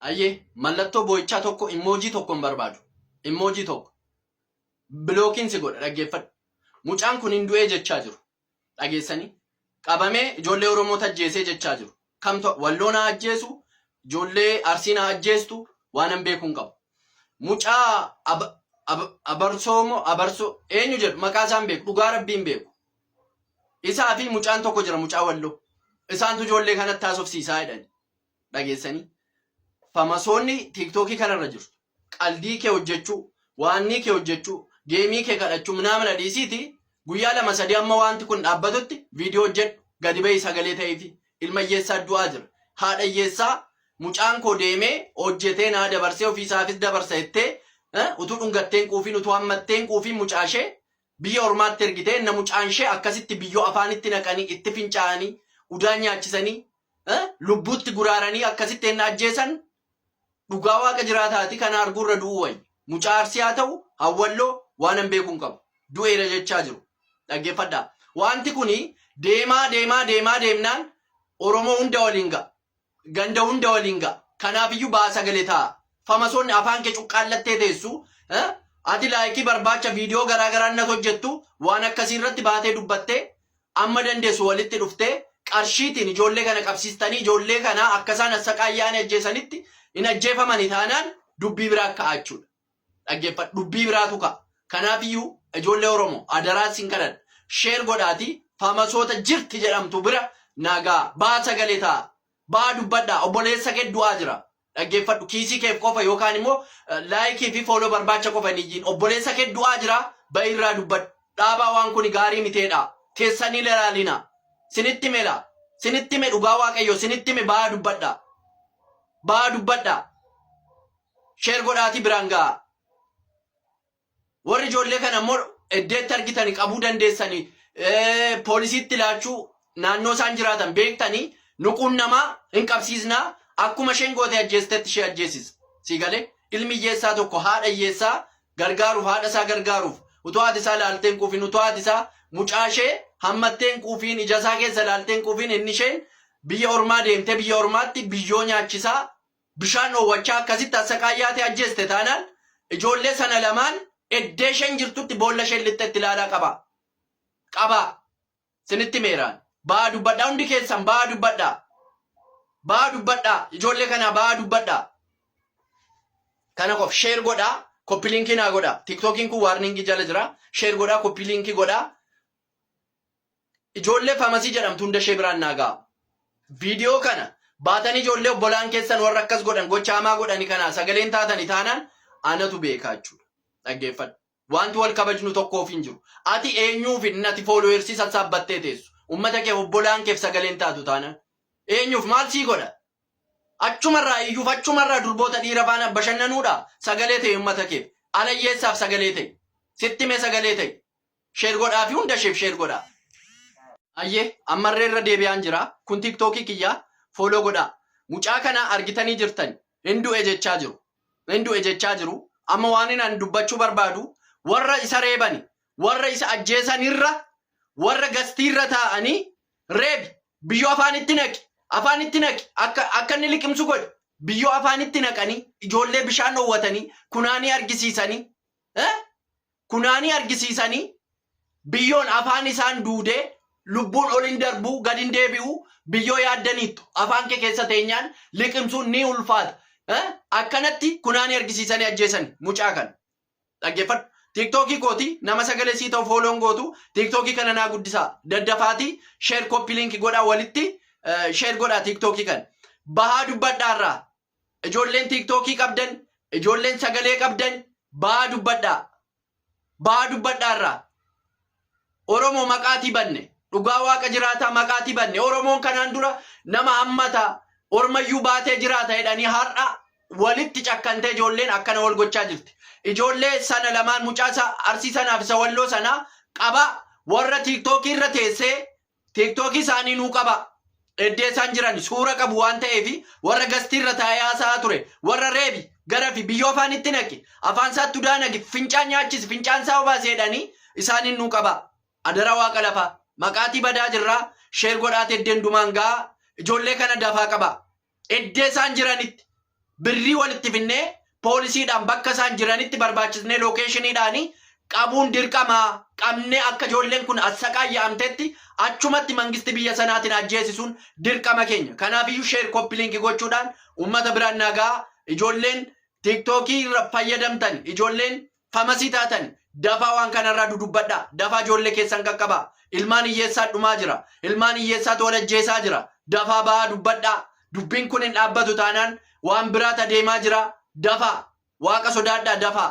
Ayyee mallattoo boo'ichaa tokko immoojii tokko hin barbaadu. Immoojii tokko. Bilookiin si godha dhaggeeffadhu. Mucaan kun hin du'ee jechaa jiru. Dhageessanii? Qabamee ijoollee Oromoo tajjeesee jechaa jiru. Kamtu walloo naa ajjeesu, ijoollee Arsii naa ajjeestu waanan beekuun qabu. Mucaa ab, ab, abarsoo moo abarsoo eenyu jedhu maqaa isaa hin beeku dhugaa rabbiin beeku. Isaa fi mucaan tokko jira mucaa walloo. Isaantu ijoollee kanatti haasofsiisaa jedhani. dhageessanii famasoonni tiiktookii kanarra jirtu qaldii kee hojjechuu waannii kee hojjechuu geemii kee kadhachuu minaamina dhiisiiti guyyaa lama sadii amma waanti kun dhaabbatutti viidiyoo hojjedhu gadi ba'ii sagalee ta'eefi ilma hiyyeessaa du'aa jira haadha hiyyeessaa mucaan koo deemee hojjetee naa dabarsee ofiisaafis dabarsa jettee eh, utuu dhungatteen quufiin utuu hammatteen quufiin mucaashee Biyya ormaatti ergite enna mucaanshee akkasitti biyyoo afaanitti naqanii itti fincaa'anii udaan nyaachisanii lubbuutti guraaranii akkasitti enna ajjeesan dhugaa waaqa jiraataati kana arguu irra du'uu wayya mucaa arsii haa ta'u hawwalloo waanan beekuu hin qabu du'eera jechaa jiru dhaggeeffadhaa wanti kuni deemaa deemaa deemaa deemnaan oromoo hunda waliin ga'a ganda hunda waliin ga'a. Kanaafiyyu ba'a sagale ta'a. Famasoonni afaan kee cuqqaallattee teessu. Ati laayikii barbaacha viidiyoo garaa garaa nat hojjettu waan akkasii irratti baatee dubbattee amma dandeessu walitti dhuftee qarshiitiin ijoollee kana qabsiistanii ijoollee kana akkasaan assaqaayyaanii ajjeesanitti hin ajjeefamani taanaan dubbii biraa ka'aachuudha. Dhaggeeffadhu dubbii biraatu ka'a. Kanaafiyyuu ijoollee Oromoo adaraa isin kadhadha. Share godhaatii Famasoota jirti jedhamtu bira naa ga'a. Ba'a sagalee ta'a. Ba'a dubbadhaa. Obboleessa kee du'aa jira. Dhaggeeffadhu kiisii keef qofa yookaan immoo like fi follow barbaacha qofa hin iyyiin. Obboleessa kee du'aa jira ba'i irraa dubbadhu. Dhaabaa waan kuni gaarii miti jedhaa. Teessanii hin ilaalinaa. Sinitti hime laa. Sinitti hime dhugaa Waaqayyoo sinitti hime ba'a dubbadhaa. Ba'a dubbadhaa. Share godhaatii biraan ga'aa. Warri ijoollee kana immoo eddeetti argitani qabuu dandeessani poolisiitti laachuu naannoo isaan jiraatan beektani nuquun namaa hin qabsiisnaa akkuma isheen goote ajjeestetti ishee ajjeesisa. Sii galee ilmi hiyyeessaa tokko haadha hiyyeessaa gargaaruuf haadha isaa gargaaruuf utuu haati isaa laaltee hin quufiin utuu haati isaa mucaa ishee hammattee hin quufiin ija isaa keessa laaltee hin quufiin inni isheen biyya ormaa deemtee biyya ormaatti biyyoo nyaachisaa bishaan dhoowwachaa akkasitti assaqaayyaatee ajjeeste taanaan ijoollee sana lamaan eddee isheen jirtutti boolla isheen lixxe itti ilaalaa qabaa. Qabaa. Sinitti meeraan. Ba'aa dubbadhaa hundi keessan ba'aa dubbadhaa. Ba'aa dubbadhaa ijoollee kanaa ba'aa dubbadhaa. Kana qof sheer godhaa koppi liinkii naa godhaa. Tiiktookiin kun waarniingii jala jira. Sheer godhaa koppi liinkii godhaa. Ijoollee Famasii jedhamtu hunda ishee biraan naa gahaa. Video kana baatanii ijoollee obbolaan keessan warra akkas godhan gocha hamaa godhani kanaa sagaleen taatani taanaan anatu beekaa jechuudha. Dhaggeeffadhu. Wanti wal kabajnu tokkoof hin jiru. Ati eenyuuf inni ati followers sassaabbattee teessu. Ummata keef obbolaan keef sagaleen taatu taanaan. Eenyuuf maal sii godha? Achumarraa iyyuuf achumarraa durboota dhiira faana bashannanuudha. Sagalee ta'e ummata keef. Alayyeessaaf sagalee ta'e. Sitti mee sagalee ta'e. Share godhaa fi hunda isheef share godhaa. Ayyee ammarree irra deebi'aan jira. Kun tiktookii kiyya follow godhaa. Mucaa kana argitanii jirtan hin du'e jechaa jiru. Hin du'e jechaa jiru. Amma waan inni dubbachuu barbaadu warra isa reebani warra isa ajjeesan irra warra gastii irra taa'anii reebi biyyoo afaanitti naqi afaanitti naqi akka akka inni liqimsu godhi biyyoo afaanitti naqanii ijoollee bishaan dhoowwatanii kunaanii argisiisanii eh? kunaanii argisiisanii biyyoon afaan isaan duudee lubbuun ol hin darbuu gad hin deebi'u biyyoo yaaddaniittu afaan kee keessa teenyaan liqimsuun ni ulfaata Eh, akkanatti kunaanii argisiisanii ajjeesani mucaa kana dhaggeeffadhu tiiktookii kooti nama sagalee sii ta'u fooloon gootu tiiktookii kana naa guddisaa daddafaatii sheer koppii liinki godhaa walitti eh, sheer godhaa tiiktookii kana bahaa dubbadhaarraa Ijoolleen tiiktookii qabdan, ijoolleen sagalee qabdan ba'aa dubbadhaa. Ba'aa dubbadhaa irraa. Oromoo maqaatii banne. Dhugaa waaqa jiraataa maqaatii banne. Oromoon kanaan dura nama hammata ormayyuu baatee jiraata jedhanii har'a walitti cakkantee ijoolleen akkana wal gochaa jirti. Ijoollee sana lamaan mucaa isa arsii sanaaf isa walloo sanaa qabaa warra tiiktookii irra teessee Tiiktookii isaanii nuu qabaa. Eddee isaan jiran suura qabu waan ta'eef warra gastii irra taa'ee haasa'aa ture warra reebi gara fi biyyoo afaan itti naqi afaan isaa tudaa naqi fincaan nyaachisi fincaan isaa obaasi jedhanii isaaniin nuu qabaa. Adara waaqa lafaa maqaatii badaa jirraa sheer godhaati eddeen dumaan ga'aa ijoollee kana dafaa qabaa. Eddee isaan jiranitti birrii walitti finnee poolisiidhaan bakka isaan jiranitti barbaachisnee lookeeshiniidhaan qabuun dirqama qabnee akka ijoolleen kun assaqaayya'amtetti achumatti mangisti biyya sanaatiin ajjeesisuun dirqama keenya. Kanaafiyyuu sheer koppiliinki gochuudhaan uummata biraan naagaa ijoolleen tiiktookii irra fayyadamtan ijoolleen Famasii taatan dafaa waan kana irraa dudubbadhaa, dafaa ijoollee keessan qaqqabaa, ilmaan hiyyeessaan dhumaa jira, ilmaan hiyyeessaatu wal ajjeesaa jira, dafaa ba'aa dubbadhaa, dubbiin kun hin dhaabbatu taanaan waan biraat adeemaa jira, dafaa, Waaqa sodaadhaa, dafaa.